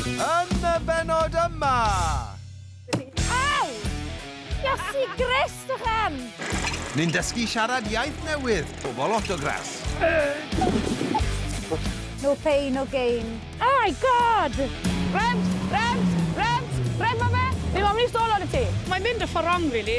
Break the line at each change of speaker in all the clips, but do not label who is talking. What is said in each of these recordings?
Yn y bennod yma!
Au! Iesu Grist a Chen! Ni'n dysgu
siarad iaith newydd, pobl Autograss!
No pain, no gain. Oh my God! Rent!
Rent! Rent! Rent ma fe! Fi moyn mynd i stall ar y tŷ. Mae'n mynd y ffordd wrong rili.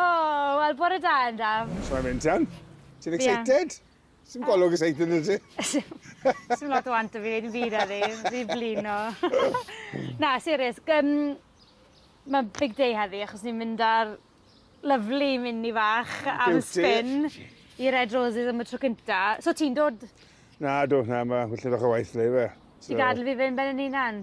O, oh, wel, bore da, Endaf. Mae'n mynd iawn.
Ti'n excited? Yeah. Sim golwg ys eithin ydy? Sim
lot o want o fi wneud yn byd eddi, fi blin o. Na, serius, um, mae big day heddi achos ni'n mynd ar lyflu mini fach am spin i Red Roses am y tro cynta. So ti'n dod? Na, dod na,
mae hwyllid o'ch o waith le fe. Ti'n gadael fi fe yn ben
yn unan?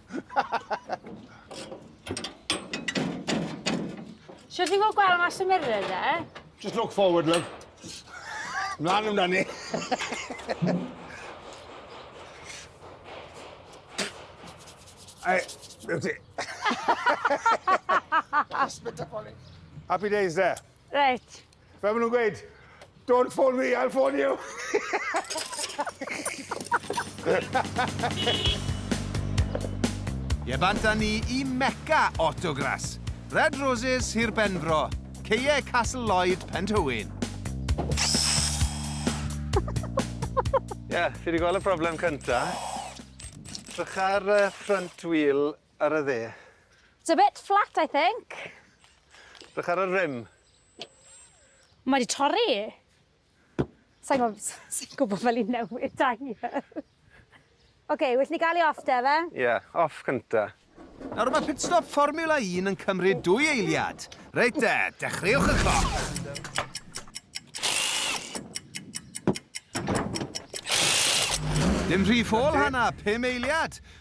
Sut ti'n gweld gweld mas y mirror, de? Just look forward,
love. Mlaen amdana ni. Ai, be ti? Spit up on it. Happy days there. Reit.
Fel maen nhw'n gweud,
don't phone me, I'll phone you.
Ie, bant â ni i Mecca Autogras. Red Roses, Sir Benfro. Ceie Castle Lloyd, Penthywyn.
Ie, yeah, fi wedi gweld y broblem cyntaf. Trwch ar uh, front wheel Ar y dde. It's a bit
flat I think. Drych
ar y rim.
Mae di torri. Sain gwbo sain gwbo fel i newid tyre. Ok, well ni gael i off de fe? Ie, off cynta.
Nawr mae pit
stop Fformiwla Un yn cymryd dwy eiliad. Reit de, dechreuwch y cloc. Dim rhy ffôl, Hannah, pum eiliad.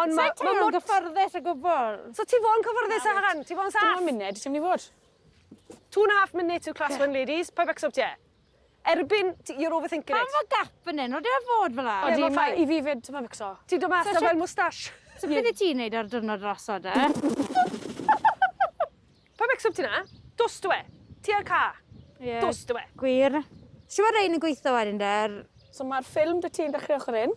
Ond mae ma mor gyfforddus
o gwbl. So ti fo'n cyfforddus
â hwn? Ti fo'n saff? Dim ond munud, ti'n mynd i fod. Two and a half minutes to class one ladies, pa becso ti e? Erbyn, you're overthinking it. Pam fo gap fan hyn,
oedde
ar
fod fel ar? Odi, mae i fi fyd,
ti'n mynd becso. Ti'n dod mas fel moustache. So beth i ti'n neud
ar dyrnod raso de?
Pa becso ti na? Dos dwe, ti ar ca. Yeah. Dos dwe. Gwir.
Siwa rein yn gweithio wedyn de? So mae'r ffilm dy
ti'n dechrau ochr un.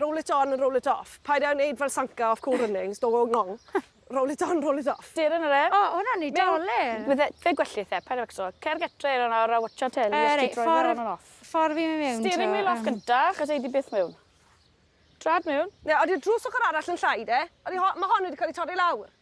Roll it on and roll it off. Paid â wneud fel Sanka off Cool Runnings, don't go ngong. Roll it on, roll it off. Dir yn yr aer. O, hwnna'n
Nadolig!
Bydde fe gwell i the
pen ac eto, cer getre yn awr a watsio teli os ti'n troi fe on and off. Ffordd i mewn to. Steering
wheel off gynta,
achos ei di byth mewn. Trad mewn. Ie, odi'r drws ochr
arall yn llai de? Odi ho- ma' hon wedi cael ei torri lawr?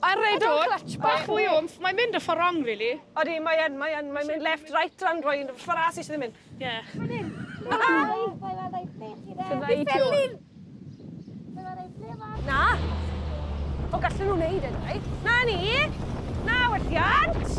A redwr clutch bach mwy o wmff. Mae'n mynd y ffordd rong rili. Odi mae yn mae yn
mae'n mynd left right lan roi yn ffordd as eisiau ddim mynd. Ie.
Mae'n hyn. Fydda i
tu ôl.
Na. O gallen nhw wneud e dau. Na ni. Na welliant.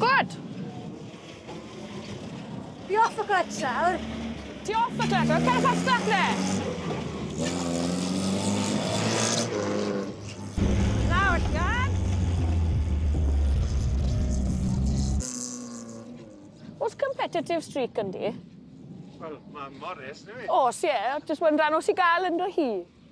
Gwlad!
Fi off y gwlad nawr. Ti off y
gwlad nawr? Cerwch allan
nawr te!
O's competitive streak ynddi? Wel, ma'
Morris, neu? O's ie, jyst wedyn
rhan o sy ga'l ynddo hi.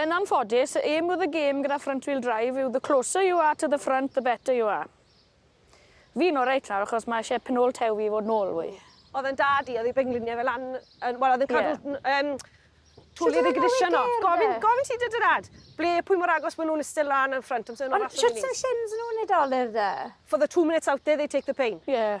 Yn anffodus, y aim with the game gyda front wheel drive yw the closer you are to the front the better you are. Fi'n oreit nawr achos mae eisiau penôl tew fi i fod nôl fwy. Oedd e'n dad i oedd
ei bengliniau fe lan yn wel oedd e'n cadw yym twli yr ignition off. Gofyn gofyn ti dy dy dad ble pwy mor agos ma' nhw'n iste lan yn ffrynt amser o'n nhw allan yn neis. Ond shwt o'dd shins nhw'n
ei dolur de? For the two minutes out
there they take the pain. Ie.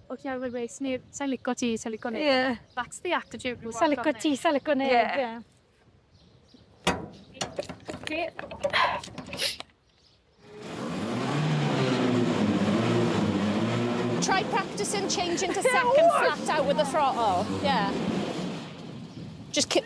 O ti
ar wy wei sneb sai'n lico ti sai'n lico neb. Ie. That's the
attitude
rŵan. Sai'n lico ti sai'n lico
neb. Ie. Yeah.
Try practicing changing to second flat out with the throttle. Yeah. Just keep...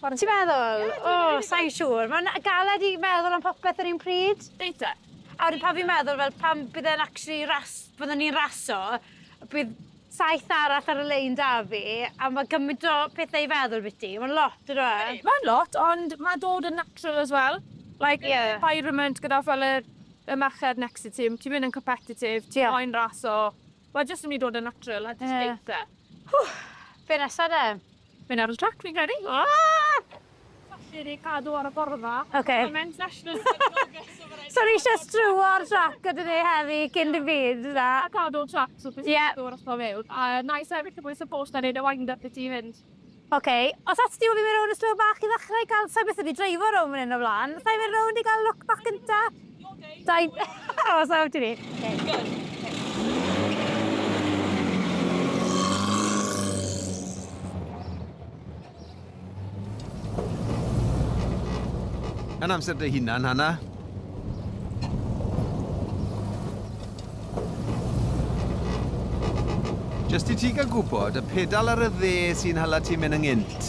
Ti'n meddwl?
O, sain siŵr. Mae'n galed i meddwl am popeth yr un pryd. Eitha. A wedyn
pan fi'n
meddwl fel pan bydd e'n actually ras, byddwn ni'n raso, bydd saith arall ar y lein 'da fi, a ma' gymaint o pethe i feddwl biti. Mae'n lot on'd yw e? Mae'n lot, ond
ma' dod yn natural as well. Like... Ie. ...environment gyda fel yr y merched next to ti, m- ti'n mynd yn competitive... Ie. ...ti moyn raso. Mae jyst yn myn' i dod yn natural a jyst deutha.
Be' nesa 'de? Mae'n ar y trac
fi'n credu. Aaahh! Allir ei cadw ar y borfa. Oce. Mae Men's National
yn
gefnogol so ma'
raid... So ni isie struo'r trac gyda ni heddi cyn dim byd na? A cadw'r trac so
bydd... Ie. ...yn dod drosto mewn. A wna i sefyll y mwy supposed a neud y wind up i ti fynd. Oce. Os
allet ti ofyn fi rownd y stryw bach i ddechrau i ga'l... Sai byth wedi dreifo rownd fan 'yn o flan. Sai mynd rownd i ga'l look bach gynta? Dau... O, sa awr
dwi ni.
Yn amser dy hunan, Hanna. Jyst i ti gael gwybod, y pedal ar y dde sy'n hala ti mynd ynghynt.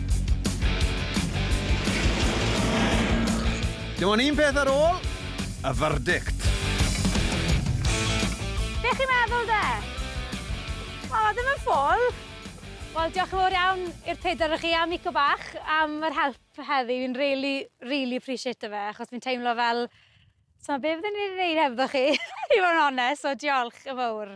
Dim ond un peth ar ôl, y verdict.
Be chi'n meddwl de? O, ddim yn ffwl. Wel, diolch yn fawr iawn i'r pedwar o chi a Mico Bach am yr help heddi. Fi'n rili, rili aprîsieito fe, achos fi'n teimlo fel, s'mo' be' fydden i 'di neud hebddo chi, i fod yn onest, so diolch yn fowr.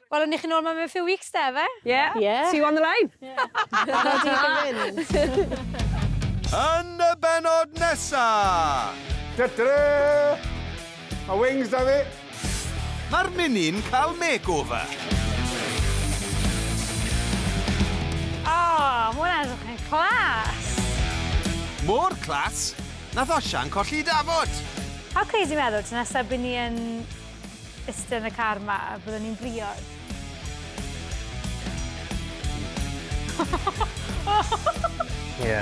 Wel,
ni chi nôl 'ma mewn few weeks 'da efe? Ie. Ie. See you on the
line. Ie. Barod i chi fynd.
Yn y bennod nesa! Ta-ta-ra!
Ma' wings 'da fi! Ma'r
Mini'n cael makeover!
O! Ma' hwnna'n edrych yn class!
Mor class, nath Osian colli'i dafod! How crazy
meddwl, tro nesa by ni yn Iste yn y car 'ma, byddwn ni'n briod.
Ie.